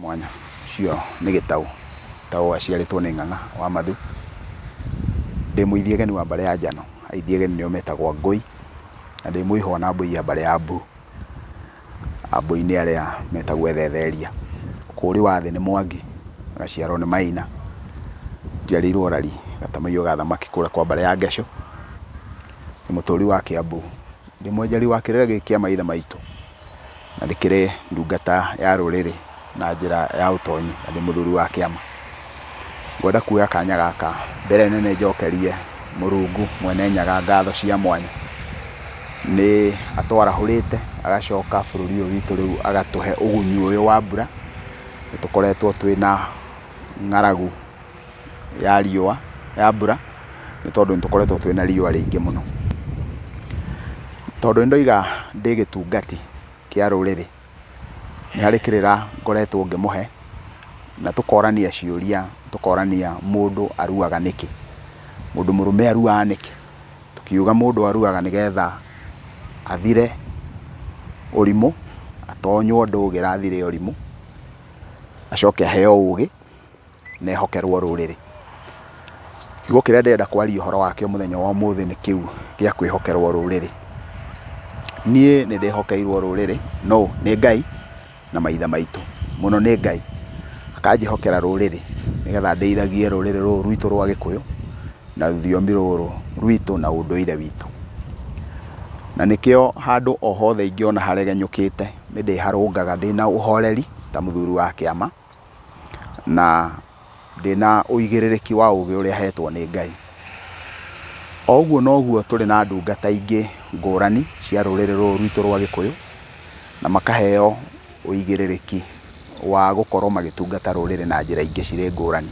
mwanya. Ũcio nĩ Gĩtaũ. Gĩtaũ aciarĩtwo nĩ Ng'ang'a wa Mathu. Ndĩ mũithiageni wa mbarĩ ya Njano. Aithiageni nĩo metagwo Angũi, na ndĩ mũihwa na Mbũi ya mbarĩ ya Mbu. Ambũi nĩ arĩa metagwo Ethetheria. Ũkũũri wa thĩ nĩ Mwangi, ngaciarwo nĩ Maina. Njiarĩirwo Rari, gatamũiyo ga thamaki kũrĩa kwa mbarĩ ya Ngecũ. Ndĩ mũtũũri wa Kĩambu. Ndĩ mwenjeri wa kĩrĩra gĩkĩ kĩa maithe maitũ. na rĩkĩrĩ ndungata ya rũrĩrĩ na njĩra ya ũtonyi na ndĩ mũthuri wa kĩama. Ngwenda kuoya kanya gaka mbere nene njokerie Mũrungu Mwene Nyaga ngatho cia mwanya, nĩ atwarahũrĩte agacoka bũrũri ũyũ witũ rĩu agatũhe ũgunyu ũyũ wa mbura, nĩ tũkoretwo twĩna ng'aragu. ya riũa, ya mbura, nĩ tondũ nĩ tũkoretwo twĩna riũa rĩingĩ mũno. Tondũ nĩ ndoiga ndĩ gĩtungati kĩa rũrĩrĩ, nĩ harĩ kĩrĩra ngoretwo ngĩmũhe, na tũkorania ciũria, tũkorania mũndũ aruaga nĩkĩ? Mũndũ mũrũme aruaga nĩkĩ? Tũkiuga mũndũ aruaga nĩgetha athire ũrimũ, atonywo ndũgĩra athire ũrimũ, acoke aheo ũgĩ. Nehokerwo rũrĩrĩ. Kiugo kĩrĩa ndĩrenda kwaria ũhoro wakĩo mũthenya wa ũmũthĩ nĩ kĩu gĩa kwĩhokerwo rũrĩrĩ. Niĩ nĩ ndĩhokeirwo rũrĩrĩ, nũ? Nĩ Ngai na maithe maitũ. Mũno nĩ Ngai, akanjĩhokera rũrĩrĩ nĩgetha ndĩithagie rũrĩrĩ rũrũ rwitũ rwa Gĩkũyũ, na rũthiomi rũrũ rwitũ na ũndũire witũ. Na nĩkĩo handũ o hothe ingĩona haregenyũkĩte nĩ ndĩharũngaga ndĩna ũhoreri ta mũthuri wa kĩama, na ndĩna ũigĩrĩrĩki wa ũgĩ ũrĩa hetwo nĩ Ngai. O ũguo noguo tũrĩ na ndungata ingĩ ngũrani cia rũrĩrĩ rũrũ rwitũ rwa gĩkũyũ, na makaheo ũigĩrĩrĩki wa gũkorwo magĩtungata rũrĩrĩ na njĩra ingĩ cirĩ ngũrani.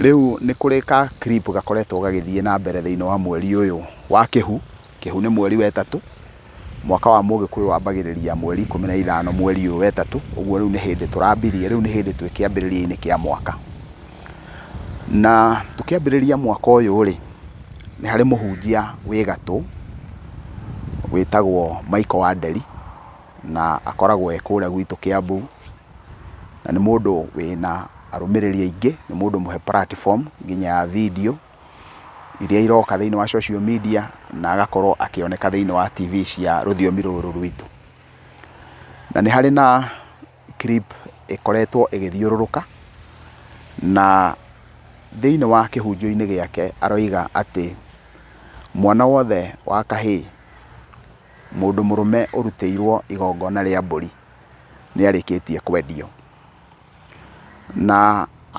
Rĩu nĩ kũrĩ ka clip gakoretwo gagĩthiĩ na mbere thĩiniĩ wa mweri ũyũ wa kĩhu. Kĩhu nĩ mweri wa ĩtatũ, mwaka wa mũgĩkũyũ wambagĩrĩria mweri ikũmi na ithano mweri ũyũ wa ĩtatũ, ũguo rĩu nĩ hĩndĩ tũrambirie, rĩu nĩ hĩndĩ twĩ kĩambĩrĩria-inĩ kĩa mwaka. Na tũkĩambĩrĩria mwaka ũyũ rĩ, nĩ harĩ mũhunjia wĩ gatũ wĩtagwo Michael Wanderi, na akoragwo e kũrĩa gwitũ Kĩambu, na nĩ mũndũ wĩna arũmĩrĩri aingĩ, nĩ mũndũ mũhe platform nginya ya video. iria iroka thĩinĩ wa social media na agakorwo akĩoneka thĩinĩ wa TV cia rũthiomi rũrũ rwitũ. Na nĩ harĩ na clip ĩkoretwo ĩgĩthiũrũrũka na thĩinĩ wa kĩhunjio-inĩ gĩake aroiga atĩ mwana wothe wa kahĩĩ mũndũ mũrũme ũrutĩirwo igongona rĩa mbũri nĩ arĩkĩtie kwendio. Na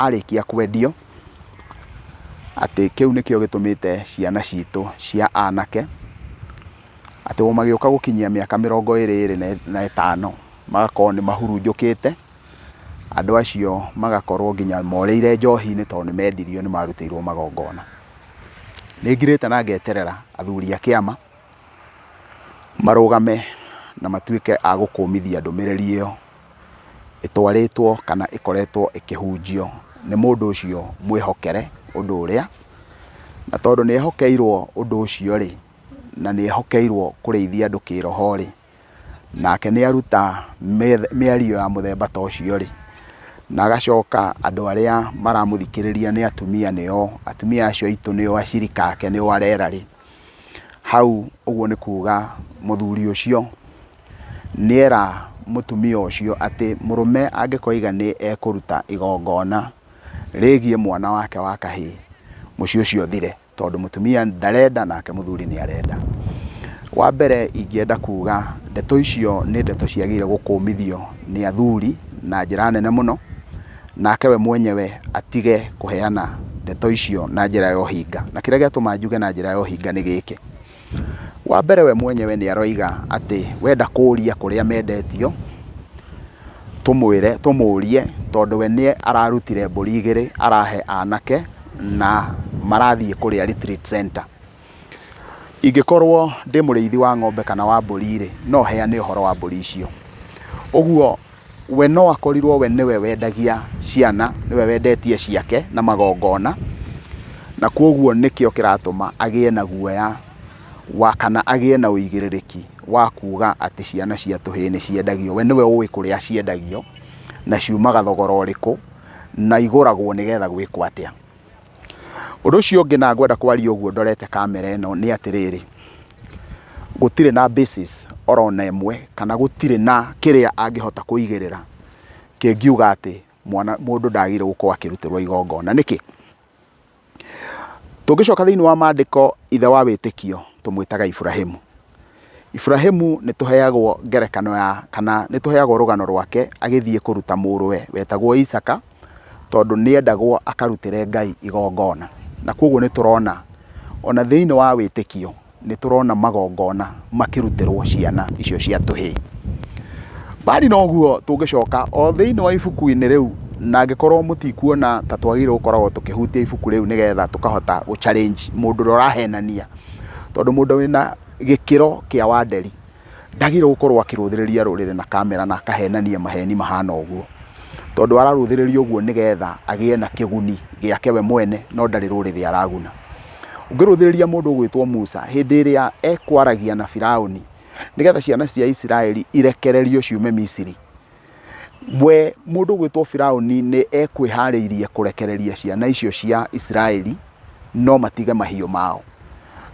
arĩkia kwendio, atĩ kĩu nĩkĩo gĩtũmĩte ciana citũ cia anake, atĩ o magĩũka gũkinyia mĩaka mĩrongo ĩrĩ ĩrĩ na ĩtano, magakorwo nĩ mahurunjũkĩte, andũ acio magakorwo nginya morĩire njohi-inĩ tondũ nĩ mendirio nĩ marutĩirwo magongona. Nĩ ngirĩte na ngeterera athuri a kĩama, marũgame na matuĩke a gũkũmithia ndũmĩrĩri ĩyo. ĩtwarĩtwo kana ĩkoretwo ĩkĩhunjio nĩ mũndũ ũcio mwĩhokere ũndũ ũrĩa, na tondũ nĩ ehokeirwo ũndũ ũcio rĩ, na nĩ ehokeirwo kũrĩithia andũ kĩĩroho rĩ, nake nĩ aruta mĩario ya mũthemba ta ũcio rĩ, na agacoka andũ arĩa maramũthikĩrĩria nĩ atumia, nĩo atumia acio aitũ nĩo acirika ake nĩo arera rĩ, Hau ũguo nĩ kuga mũthuri ũcio nĩera mũtumia ũcio atĩ mũrũme angĩkoiga nĩ ekũruta igongona rĩgiĩ mwana wake wa kahĩĩ, mũciĩ ũcio ũthire, tondũ mũtumia ndarenda nake mũthuri nĩ arenda. Wa mbere ingĩenda kuga ndeto icio nĩ ndeto ciagĩrĩire gũkũmithio nĩ athuri na njĩra nene mũno. nake we mwenyewe atige kũheana ndeto icio na njĩra ya ũhinga. Na kĩrĩa gĩatũma njuge na njĩra ya ũhinga nĩ gĩkĩ, wa mbere we mwenyewe nĩ aroiga atĩ wenda kũũria kũrĩa mendetio, tũmwĩre, tũmũrie tondũ we nĩ ararutire mbũri igĩrĩ arahe anake na marathiĩ kũrĩa retreat center. Ingĩkorwo ndĩ mũrĩithi wa ng'ombe kana wa mbũri-rĩ, no heane ũhoro wa mbũri icio. Ũguo we no akorirwo we nĩwe wendagia ciana, nĩwe wendetie ciake na magongona, na kuoguo nĩkĩo kĩratũma agĩe na guoya wa kana agĩe na ũigĩrĩrĩki wa kuga atĩ ciana cia tũhĩĩ nĩ ciendagio. We nĩwe ũĩ kũrĩa ciendagio, na ciumaga thogora ũrĩkũ, na igũragwo nĩgetha gwĩkwo atĩa. Ũndũ ũcio ũngĩ na ngwenda kwaria ũguo ndorete kamera ĩno nĩ atĩrĩrĩ, gũtirĩ na basis orona ĩmwe kana gũtirĩ na kĩrĩa angĩhota kũigĩrĩra kĩngiuga atĩ mwana mũndũ ndagĩrĩire gũkorwo akĩrutĩrwo igongona. Nĩkĩ? Tũngĩcoka thĩinĩ wa mandĩko ithe wa wĩtĩkio tũmwĩtaga Ibrahĩmu. Iburahĩmu nĩ tũheagwo ngerekano ya kana nĩ tũheagwo rũgano rwake agĩthiĩ kũruta mũrũwe wetagwo Isaka tondũ nĩ endagwo akarutĩre Ngai igongona. Na kwoguo nĩ tũrona ona thĩinĩ wa wĩtĩkio nĩ tũrona magongona makĩrutĩrwo ciana icio cia tũhĩĩ. Mbali na ũguo tũngĩcoka o thĩinĩ wa ibuku-inĩ rĩu na angĩkorwo mũtikuona ta twagĩrĩirwo gũkoragwo tũkĩhutia ibuku rĩu nĩgetha tũkahota gũ challenge mũndũ ũrĩa ũrahenania. tondũ mũndũ wĩna gĩkĩro kĩa Wanderi ndagĩrĩirwo gũkorwo akĩrũthĩrĩria rũrĩrĩ na kamera na akahenania maheni mahana ũguo, tondũ ararũthĩrĩria ũguo nĩgetha agĩe na kĩguni gĩake we mwene no ndarĩ rũrĩrĩ araguna. Ũngĩrũthĩrĩria mũndũ ũgwĩtwo Musa hĩndĩ ĩrĩa ekwaragia na Biraũni nĩgetha ciana cia Isiraeli irekererio ciume Misiri, We mũndũ ũgwĩtwo Firaũni nĩ ekwĩharĩirie kũrekereria ciana icio cia Isiraeli no matige mahiũ mao.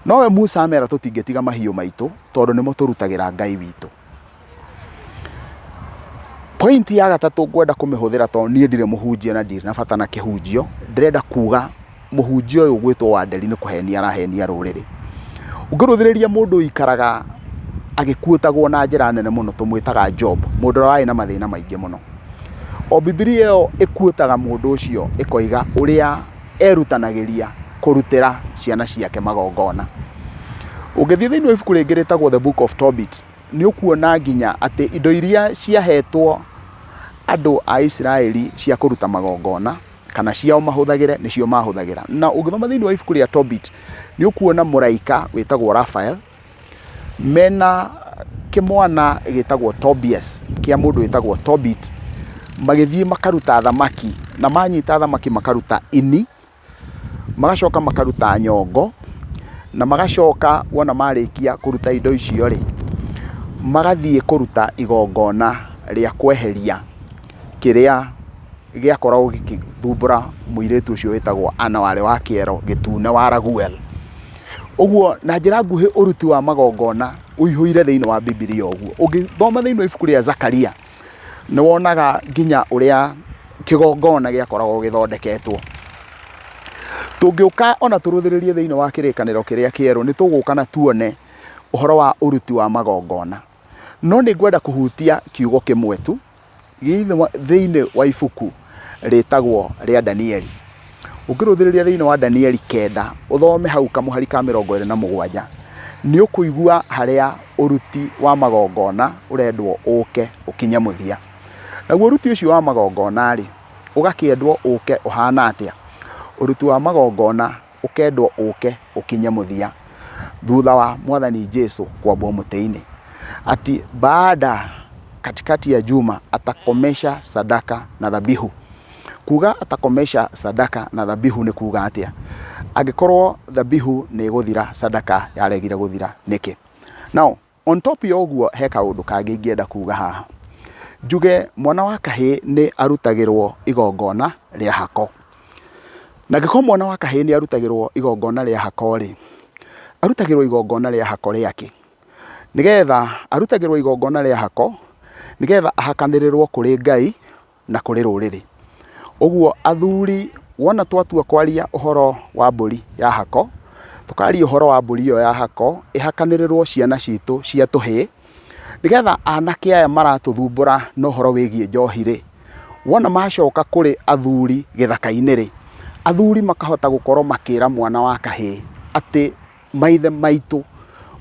Nowe Musa amera tũtingĩtiga mahiũ maitũ tondũ nĩmo tũrutagĩra Ngai witũ. Pointi ya gatatũ ngwenda kũmĩhũthĩra tondũ niĩ ndirĩ mũhunjia na ndirĩ na bata na kĩhunjio, ndĩrenda kuga mũhunjia ũyũ ũgwĩtwo Wanderi nĩ kũhenia arahenia rũrĩrĩ. Ũngĩrũthĩrĩria mũndũ ũikaraga agĩkuotagwo na njĩra nene mũno tũmwĩtaga Job, mũndũ ũrĩa warĩ na mathĩna maingĩ mũno. O Bibilia ĩyo ĩkuotaga mũndũ ũcio ĩkoiga ũrĩa erutanagĩria kũrutĩra ciana ciake magongona. Ũngĩthiĩ thĩinĩ wa ibuku rĩngĩ rĩtagwo The Book of Tobit, nĩ ũkuona nginya atĩ indo iria ciahetwo andũ a Isiraeli cia kũruta magongona, kana ciao mahũthagĩre nĩcio mahũthagĩra na ũngĩthoma thĩinĩ wa ibuku rĩa Tobit nĩ ũkuona mũraika wĩtagwo Raphael mena kĩmwana gĩtagwo Tobias kĩa mũndũ wĩtagwo Tobit magĩthiĩ makaruta thamaki na manyita thamaki makaruta ini magacoka makaruta nyongo na magacoka wona marĩkia kũruta indo icio rĩ magathiĩ kũruta igongona rĩa kweheria kĩrĩa gĩakoragwo gĩgĩthumbũra mũirĩtu ũcio wĩtagwo Anna warĩ wa kĩero gĩtune wa Raguel. Ũguo na njĩra nguhĩ ũruti wa magongona ũihũire thĩinĩ wa Bibilia ũguo. Ũngĩthoma thĩinĩ wa ibuku rĩa Zakaria, nĩ wonaga nginya ũrĩa kĩgongona gĩakoragwo gĩthondeketwo. Tũngĩũka ona tũrũthĩrĩrie thĩinĩ wa kĩrĩkanĩro kĩrĩa kĩerũ, nĩ tũgũka na tuone ũhoro wa ũruti wa magongona. No nĩ ngwenda kũhutia kiugo kĩmwe tu thĩinĩ wa ibuku rĩtagwo rĩa Danieli. Ũngĩrũthĩrĩria thĩinĩ wa Danieli kenda, ũthome hau kamũhari ka mĩrongo ĩrĩ na mũgwanja, nĩ ũkũigua harĩa ũruti wa magongona ũrendwo ũke ũkinye mũthia. Naguo ũruti ũcio wa magongona-rĩ, ũgakĩendwo ũke ũhana atĩa? Ũruti wa magongona ũkendwo ũke ũkinye mũthia thutha wa mwathani Jesu kwambwo mũtĩ-inĩ, ati baada katikati ya juma atakomesha sadaka na dhabihu. Kuga atakomesha sadaka na dhabihu nĩ kuga atĩa? Angĩkorwo dhabihu nĩ ĩgũthira, sadaka yaregire gũthira nĩkĩ? Now, On top ya ũguo he kaũndũ kangĩ ingĩenda kuuga haha. Njuge mwana wa kahĩĩ nĩ arutagĩrwo igongona rĩa hako. Na angĩkorwo mwana wa kahĩĩ nĩ arutagĩrwo igongona rĩa hako rĩ, arutagĩrwo igongona rĩa hako rĩa kĩ? Nĩgetha, arutagĩrwo igongona rĩa hako nĩgetha ahakanĩrĩrwo kũrĩ Ngai. na kũrĩ rũrĩrĩ. Ũguo athuri wona twatua kwaria ũhoro wa mbũri ya hako, tũkaria ũhoro wa mbũri ĩyo ya hako, ĩhakanĩrĩrwo ciana citũ cia tũhĩĩ, nĩgetha anake aya maratũthumbũra na ũhoro wĩgiĩ njohi rĩ, wona macoka kũrĩ athuri gĩthaka-inĩ rĩ, athuri makahota gũkorwo makĩra mwana wa kahĩĩ atĩ maithe maitũ,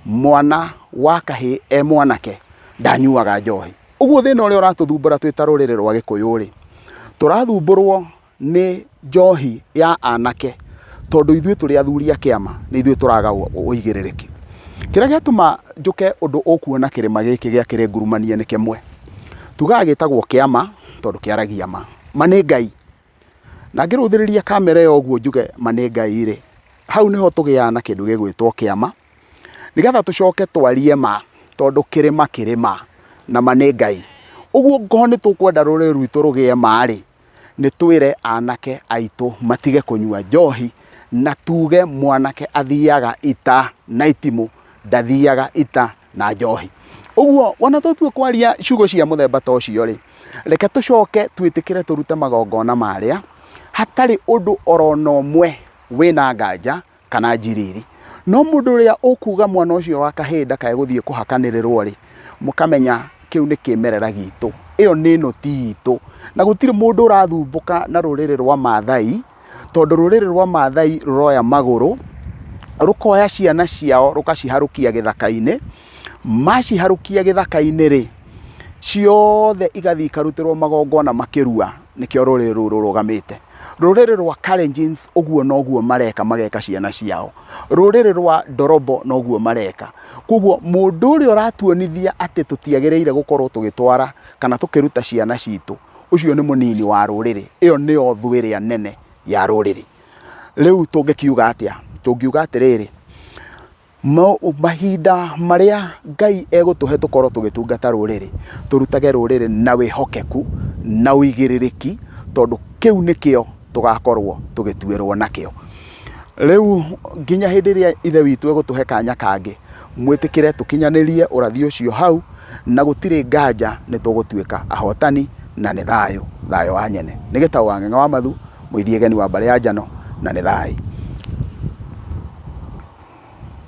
mwana wa kahĩĩ e mwanake ndanyuaga njohi. Ũguo thĩna ũrĩa ũratũthumbũra twĩ ta rũrĩrĩ rwa Gĩkũyũ-rĩ, tũrathumbũrwo nĩ njohi ya anake tondũ ithuĩ tũrĩ athuri a kĩama nĩ ithuĩ tũraga ũigĩrĩrĩki. Kĩrĩa gĩatũma njũke ũndũ ũkuona kĩrĩma gĩkĩ gĩa Kĩrĩngurumania nĩ kĩmwe, tugaga gĩtagwo kĩama tondũ kĩaragia ma. Ma nĩ Ngai. Na ngĩrũthĩrĩria kamera ĩyo ũguo njuge ma nĩ Ngai rĩ, hau nĩho tũgĩaga na kĩndũ gĩgwĩtwo kĩama, nĩgetha tũcoke twarie ma, tondũ kĩrĩma kĩrĩ ma, na ma nĩ Ngai. Ũguo ũngĩkorwo nĩ tũkwenda rũrĩrĩ rwitũ rũgĩe ma rĩ, nĩ twĩre anake aitũ matige kũnyua njohi, na tuge mwanake athiaga ita na itimũ, ndathiaga ita na njohi ũguo wona tũtua kwaria ciugo cia mũthemba ta ũcio rĩ reke tũcoke twĩtĩkĩre tũrute magongona marĩa hatarĩ ũndũ orona ũmwe wĩna nganja kana njiriri no mũndũ ũrĩa ũkuga mwana ũcio wa kahĩĩ ndakae gũthiĩ kũhakanĩrĩrwo rĩ mũkamenya kĩu nĩ kĩmerera gitũ ĩyo nĩ nũti itũ na gũtirĩ mũndũ ũrathumbũka na rũrĩrĩ rwa mathai tondũ rũrĩrĩ rwa Maathai rũroya magũrũ, rũkoya ciana ciao rũkaciharũkia gĩthaka-inĩ, maciharũkia gĩthaka-inĩ rĩ, ciothe igathiĩ ikarutĩrwo magongona makĩrua, nĩkĩo rũrĩrĩ rũu rũrũgamĩte. Rũrĩrĩ rwa Kalenjin ũguo noguo mareka mageka ciana ciao. Rũrĩrĩ rwa Ndorobo noguo mareka. Kwoguo mũndũ ũrĩa ũratuonithia atĩ tũtiagĩrĩire gũkorwo tũgĩtwara kana tũkĩruta ciana citũ ũcio nĩ mũnini wa rũrĩrĩ ĩyo nĩyo thũ ĩrĩa nene ya rũrĩrĩ rĩu tũngĩkiuga atĩa tũngiuga atĩrĩrĩ mahinda marĩa ngai egũtũhe tũkorwo tũgĩtungata rũrĩrĩ tũrutage rũrĩrĩ na wĩhokeku na ũigĩrĩrĩki tondũ kĩu nĩkĩo tũgakorwo tũgĩtuĩrwo nakĩo rĩu nginya hĩndĩ ĩrĩa ithe witũ egũtũhe kanya kangĩ. Mwĩtĩkĩre tũkinyanĩrie ũrathi ũcio hau, na gũtirĩ nganja nĩ tũgũtuĩka ahotani, na nĩ thayũ, thayũ wa nyene. Nĩ gĩtaũ wang'eng'a wa mathu, mũithiegeni wa mbarĩ ya njano, na nĩ thayũ.